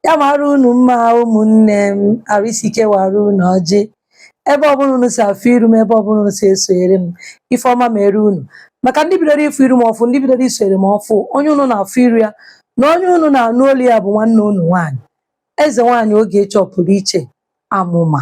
ya mara unu mma ụmụnne m arụ isi ike wara unu ọjị ebe ọbụla unu si afụ iru m ebe ọbụla unu si esonyere m ife ọma mere unu maka ndị bidoro ịfụ iru m ọfụ ndị bidoro isonyere m ọfụ onye unu na-afụ iru ya na onye unu na-anụ olu ya bụ nwanne unu nwaanyị eze nwaanyị ogechi ọpụrụ iche amụma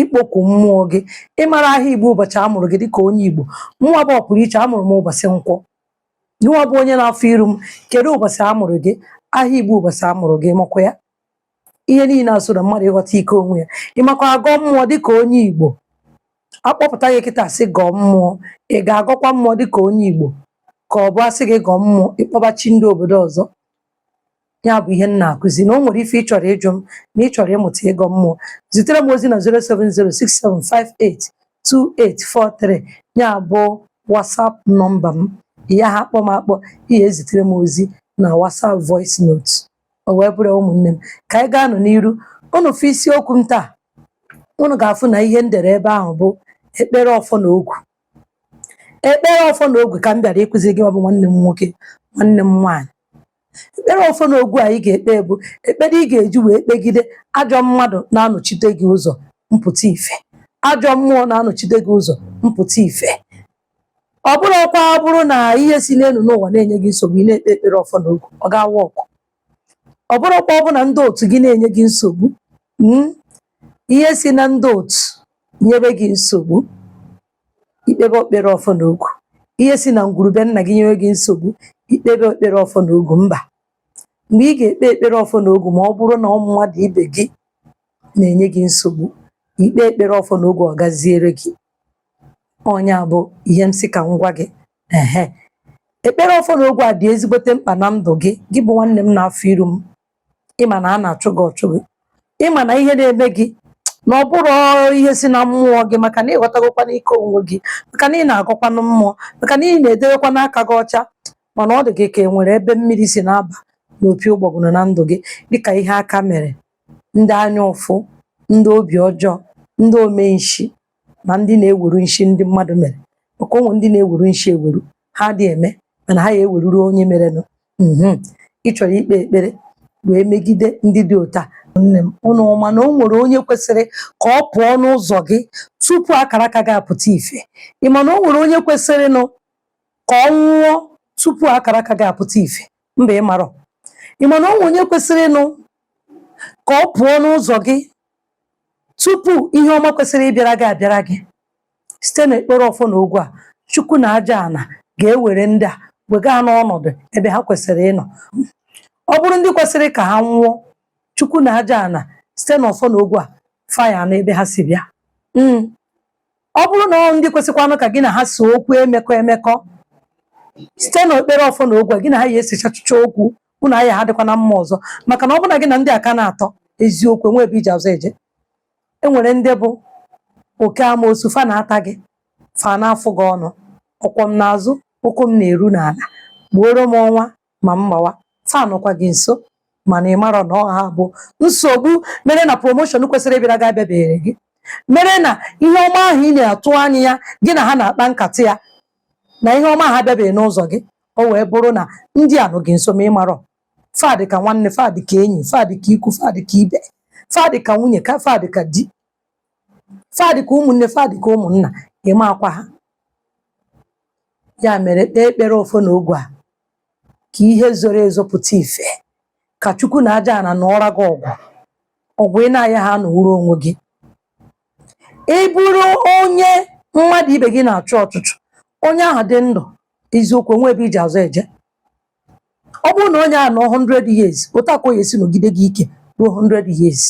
ikpoku mmụọ gị ịmara aha igbo ụbọchị a mụrụ gị dịka onye igbo mụnwa bụ ọpụrụ iche amụrụ m ụbọchị nkwọ gịnwa bụ onye na-afụ iru m kedu ụbọchị a mụrụ gị aha igbo ụbọchị a mụrụ gị makwa ya ihe niile a so na mmadụ ịghọta ike onwe ya ịmakwa agọ mmụọ dịka onye igbo akpọpụta gị kịta sị gọọ mmụọ ị ga-agọkwa mmụọ dịka onye igbo ka ọ bụ asị gị gọọ mmụọ ịkpọba chi ndị obodo ọzọ ya bụ ihe m na-akụzi na o nwere ife ị chọrọ ịjụ m na ị chọrọ ịmụta ịgọ mmụọ zitere m ozi na 07067582843 ya bụ WhatsApp nọmba m ị yaha akpọ m akpọ ị ya-ezitere m ozi na WhatsApp voice note o wee bụrụ ụmụnne m ka anyị gaanụ n'iru unu fụ isiokwu m taa unu ga-afụ na ihe m dere ebe ahụ bụ ekpere ọfọ na ogu ekpere ọfọ na ogu ka m bịara ịkụziri gị ọ bụ nwanne m nwoke nwanne m nwaanyị ekpere ọfọ na ogu anyị ga-ekpe bụ ekpere ị ga-eji wee kpegide ajọ mmadụ na-anọchite gị ụzọ mpụta ife ajọ mmụọ na-anọchite gị ụzọ mpụta ife ọ bụrọkwa ọ bụrụ na ihe si n'elu n'ụwa na-enye gị nsogbu ị na-ekpe ekpere ọfọ na ogu ọ ga-work ọ bụrọkwa ọ bụ na ndị otu gị na-enye gị nsogbu mm, ihe si na ndị otu nyebe gị nsogbu ikpebe ekpere ọfọ na ogu ihe si na ngwuru be nna gị nyebe gị nsogbu ikpebe ekpere ọfọ na ogu mba mgbe ị ga-ekpe ekpere ọfọ na ogu ma ọ bụrụ na ụmụ mmadụ ibe gị na-enye gị nsogbu ikpe ekpere ọfọ na ogu ọ gaziere gị ọ nya bụ ihe m sị ka m gwa gị ehe ekpere ọfọ na ogu a dị ezigbote mkpa na ndụ gị gị bụ nwanne m na-afụ iru m ịma na a na-achụ gị ọchụ gị ịma na ihe na-eme gị na ọ bụrọ ihe si na mmụọ gị maka na ịghọtagokwanụ ike onwe gị maka na ị na-agọkwanụ mmụọ maka na ị na-edewekwanụ aka gị ọcha mana ọ dị gị ka e nwere ebe mmiri si na-aba n'opi ụgbọgụrụ na ndụ gị dịka ihe aka mere ndị anya ụfụ ndị obi ọjọọ ndị ome nshi na ndị na-eweru nshi ndị mmadụ mere maka o nwee ndị na-eweru nshi eweru ha adị eme mana ha ya eweruru onye merenụ mhm ị chọrọ ikpe ekpere wee megide ndị dị otu a nne m ụnụ ma na o nwere onye kwesịrị ka ọ pụọ n'ụzọ gị tupu akara aka gị apụta ife ị ma na o nwere onye kwesịrị nụ ka ọ nwụọ tupu akara aka gị apụta ife mba ị marọ ị ma na o nwere onye kwesịrị nụ ka ọ pụọ n'ụzọ gị tupu ihe ọma kwesịrị ịbịara gị abịara gị site n'ekpere ọfọ na ogu a chukwu na aja ana ga-ewere ndị a wega ha n'ọnọdụ ebe ha kwesịrị ịnọ ọ bụrụ ndị kwesịrị ka ha nwụọ chukwu na aja ana site n'ọfọ na ogu a fa ya ana ebe ha si bịa Mm. ọ bụrụ na ọ ndị kwesịkwanụ ka gị na ha so okwu emekọ emekọ site n'ekpere ọfọ na ogu a, gị na ha ya esichachicha okwu unu na ha dịkwa na mma ọzọ maka na ọ bụ na gị na ndị a ka na-atọ eziokwu enwe ebe i ji azụ eje e nwere ndị bụ oke amoosu fa na-ata gị fa na-afụ gị ọnụ ọkwọ m n'azụ ụkwụ m na-eru n'ala gbuoro m ọnwa ma m gbawa fa nọkwa gị nso mana ị marọ na ọ ha bụ nsogbu mere na promoshọn kwesịrị ịbịara gị abịabeghịrị gị mere na ihe ọma ahụ ị na-atụ anya ya gị na ha na-akpa nkata ya na ihe ọma ahụ abịabeghị n'ụzọ gị o wee bụrụ na ndị a nọ gị nso ma ị marọ fa dị ka nwanne fa dị ka enyi fa dị ka ikwu fa dị ka ibe fa dị ka nwunye fa dị ka di fa dị ka ụmụnne fa dị ka ụmụnna ị maakwa ha ya mere kpee ekpere ọfọ na ogu a ka ihe zoro ezo pụta ife ka chukwu na aja ana nụọra gị ọgụ ọgụ ị na-ayaha anụwuru onwe gị ị bụrụ onye mmadụ ibe gị na-achụ ọchụchụ onye ahụ dị ndụ eziokwu o nwe ebe i ji azụ eje ọ bụrụ na onye ahụ nọ 100 years otu a ka ọ ya esi nọgide gị ike ruo 100 years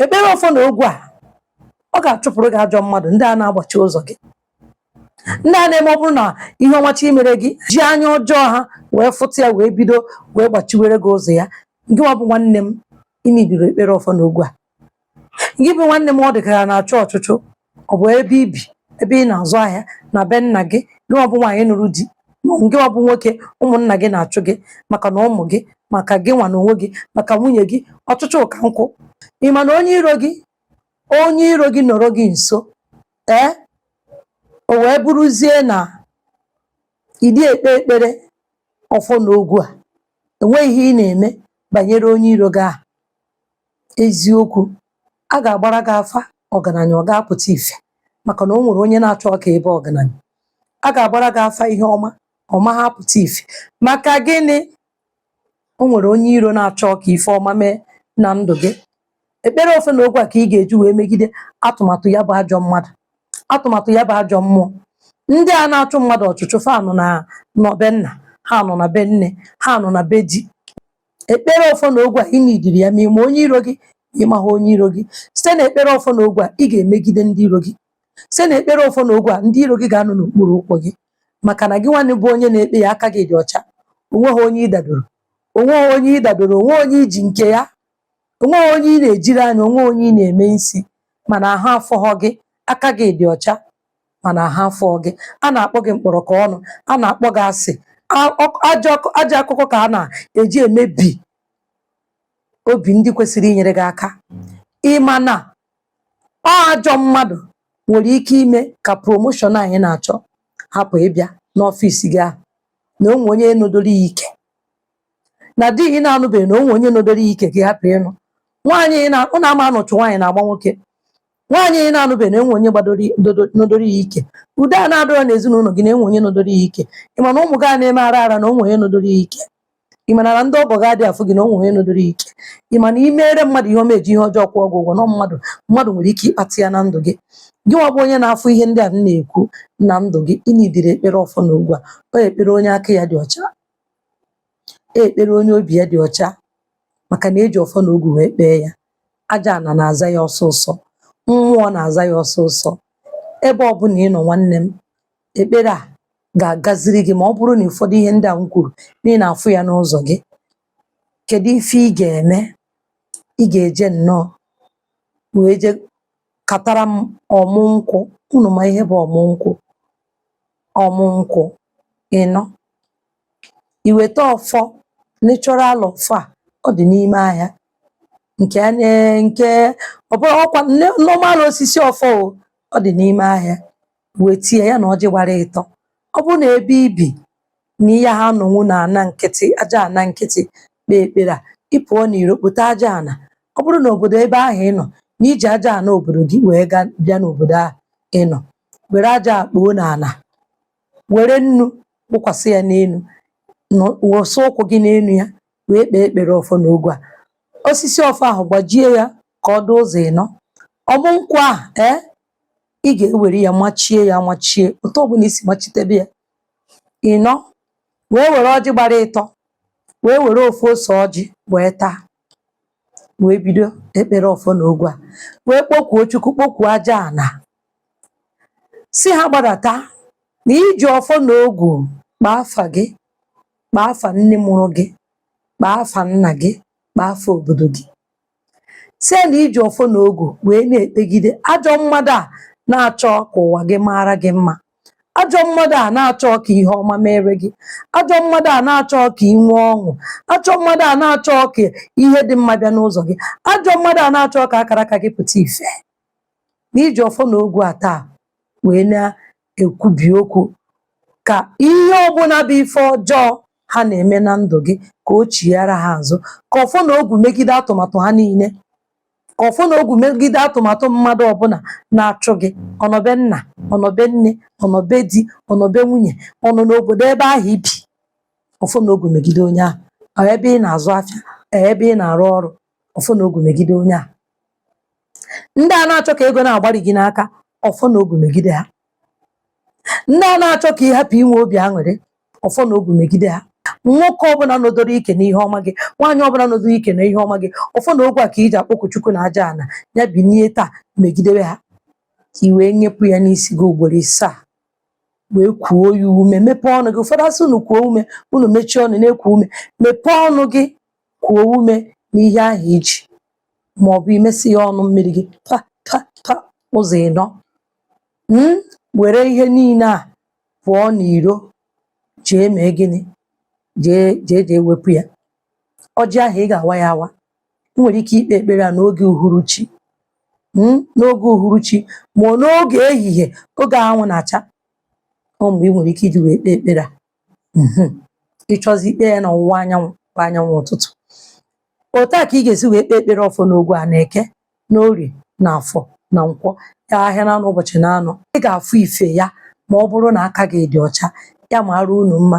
ekpere ọfọ na ogu a ọ ga-achụpụrụ gị ajọ mmadụ ndị a na-agbachi ụzọ gị ndị a na-eme ọ bụrụ na ihe ọma chọ imere gị ji anya ọjọọ ha wee fụta ya wee bido wee gbachiwere gị ụzọ ya gị nwa bụ nwanne m ị needịrị ekpere ọfọ na ogu a gị bụ nwanne m ọ dị ka a na-achụ ọchụchụ ọ bụ ebe i bi ebe ị na-azụ ahịa na be nna gị gị nwa bụ nwaanyị nụrụ di gị nwa bụ nwoke ụmụnna gị na-achụ gị maka na ụmụ gị maka gị nwa na onwe gị maka nwunye gị ọchụchụ ụka nkwụ ị ma na onye iro gị onye iro gị nọrọ gị nso ee o wee bụrụzie na ị dị ekpe ekpere ọfọ na ogu a enweghị ihe ị na-eme banyere onye iro gị ahụ Eziokwu, a ga-agbara gị afa ọgaranya, ọ ga-apụta ife maka na o nwere onye na-achọ ka ị baa ọgaranya. A ga-agbara gị afa ihe ọma, ọ maghị apụta ife. Maka gịnị? O nwere onye iro na-achọ ka ife ọma mee na ndụ gị. Ekpere ọfọ na ogu a ka ị ga-eji wee megide atụmatụ ya bụ ajọ mmadụ, atụmatụ ya bụ ajọ mmụọ. Ndị a na-achụ mmadụ ọchụchụ, fa nọ na be nna, ha nọ na be nne, ha nọ na be di. Ekpere ọfọ na ogwu a ị nidiri ya ma ị ma onye iro gị ma ị maghị onye iro gị site na ekpere ọfọ na ogwu a ị ga-emegide ndị iro gị site na ekpere ọfọ na ogwu a ndị iro gị ga-anọ n'okpuru ụkwụ gị maka na gị nwanne bụ onye na-ekpe ya aka gị dị ọcha onweghị onye ị dadoro onweghị onye ị dadoro onwe onye i ji nke ya onweghị onye ị na-ejiri anya onwe onye ị na-eme nsi mana aha afụhọ gị aka gị dị ọcha mana aha afụ gị a na-akpọ gị mkpọrọ ka ọnụ a na-akpọ gị asị ajọ akụkọ ka a na-eji emebi obi ndị kwesịrị inyere gị aka ịma na ọ ajọ mmadụ nwere ike ime ka promoshọn anyị na-achọ hapụ ịbịa n'ọfịs gị ahụ na onwe onye nọdoro ya ike na di ị na-anụbeghị na onwe onye nọdoro ya ike ka ị hapụ ịnụ nwaanyị unu ama na uchu nwaanyị na-agba nwoke nwaanyị ị na-anụbeghị na enwe onye gbadoro i- ndodo- nọdoro ya ike udo a na-adịrọ n'ezinụlọ gị na enwe onye nọdoro ya ike ị ma na ụmụ gị a na-eme ara ara na onwe onye nọdoro ya ike ị ma na ndị ọgọ gị adị afụ gị na onwe onye nọdoro ya ike ị ma na imere mmadụ ihe ọma eji ihe ọjọọ kwụọ gị ụgwọ na mmadụ mmadụ nwere ike ịkpata ya na ndụ gị gị nwa bụ onye na-afụ ihe ndị a m na-ekwu na ndụ gị ị nidiri ekpere ọfọ na ogwu a ọ ekpere onye aka ya dị ọcha ekpere onye obi ya dị ọcha maka na eji ọfọ na ogwu wee kpee ya aja ana na-aza ya ọsọsọ mmụọ na-aza ya ọsọsọ ebe ọbụla ị nọ nwanne m ekpere a ga-agaziri gị ma ọ bụrụ na ụfọdụ ihe ndị a m kwuru na ị na-afụ ya n'ụzọ gị kedu ife ị ga-eme ị ga-eje nnọọ wee je katara m ọmụ nkwụ unu ma ihe bụ ọmụ nkwụ ọmụ nkwụ ịnọ i weta ọfọ natural ọfọ a ọ dị n'ime ahịa nke a na nke ọ bụrụ ọkwa nne- normal osisi ọfọ o ọ dị n'ime ahịa wete ya na ọjị gbara ịtọ ọ bụrụ na ebe ibi na ị yaha anọnwu na ana nkịtị aja ana nkịtị kpee ekpere a ị pụọ n'iro kpota aja ana ọ bụrụ na obodo ebe ahụ ị nọ na iji aja ana obodo gị wee bịa n'obodo ahụ ị nọ were aja kpoo n'ana were nnu kpụkwasị ya n'enu wụsa ụkwụ gị n'enu ya wee kpee ekpere ọfọ na ogwu a osisi ọfọ ahụ gbajie ya ka ọ dị ụzọ ịnọ ọmụ nkwụ ahụ ee ị ga-ewere ya machie ya machie otu ọbụla i si machitebe ya ịnọ wee were ọjị gbara ịtọ wee were ofu ose ọjị wee taa wee bido ekpere ọfọ na ogwu a wee kpọkuo Chukwu kpọkuo aja ana sị ha gbadata na i ji ọfọ na ogwu kpaa afa gị kpaa afa nne mụrụ gị kpaa afa nna gị kpaa afa obodo gị sị ya na i ji ọfọ na ogwu wee na-ekpegide ajọ mmadụ a na-achọ ka ụwa gị mara gị mma ajọ mmadụ a na-achọ ka ihe ọma mere gị ajọ mmadụ a na-achọ ka i nwee ọṅụ ajọ mmadụ a na-achọ ka ihe dị mma bịa n'ụzọ gị ajọ mmadụ a na-achọ ka akaraka gị pụta ife na i ji ọfọ na ogwu a taa wee na-ekwubi okwu ka ihe ọbụna bụ ife ọjọọ ha na-eme na ndụ gị ka o chighaara ha azụ ka ọfọ na ogwu megide atụmatụ ha niile ka ọfọ na ogwu megide atụmatụ mmadụ ọbụna na-achụ gị ọ nọ be nna ọ nọ be nne ọ nọ be di ọ nọ be nwunye ọ nọ n'obodo ebe ahụ i bi ọfọ na ogwu megide onye ahụ ọ ebe ị na-azụ afịa ọ ebe ị na-arụ ọrụ ọfọ na ogwu megide onye ahụ ndị a na-achọ ka ego na-agbari gị n'aka ọfọ na ogu megide ha ndị a na-achọ ka ị hapụ inwe obi aṅụrị ọfọ na ogu megide ha nwoke ọbụna nọdoro ike na ihe ọma gị nwaanyị ọbụna nọdoro ike na ihe ọma gị ọfọ na ogwu a ka i ji akpọku Chukwu na aja ana ya binie taa megidebe ha ka i wee nyepụ ya n'isi gị ugboro isaa wee kuo ya ume mepee ọnụ gị ụfọdụ a sị unu kuo ume unu mechie ọnụ na-eku ume mepee ọnụ gị kuo ume n'ihe ahụ i ji ma ọ bụ i mesi ya ọnụ mmiri gị pa pa pa ụzọ ịnọ were ihe niile a pụọ n'iro jee mee gịnị jee jee jee wepụ ya ọjị ahụ ị ga-awa ya awa i nwere ike ikpe ekpere a n'oge uhuruchi mm, n'oge uhuruchi ma ọ n'oge ehihie oge anwụ na-acha ọ mgbe i nwere ike iji wee kpee ekpere a mhm. ị chọzi ikpe ya n'ọwụwa anyanwụ bụ anyanwụ ụtụtụ otu a ka ị ga-esi wee kpee ekpere ọfọ n'ogwu a na eke na orie na afọ na nkwọ ya ahịa na anọ ụbọchị na anọ ị ga-afụ ife ya ma ọ bụrụ na aka gị dị ọcha ya maara unu mma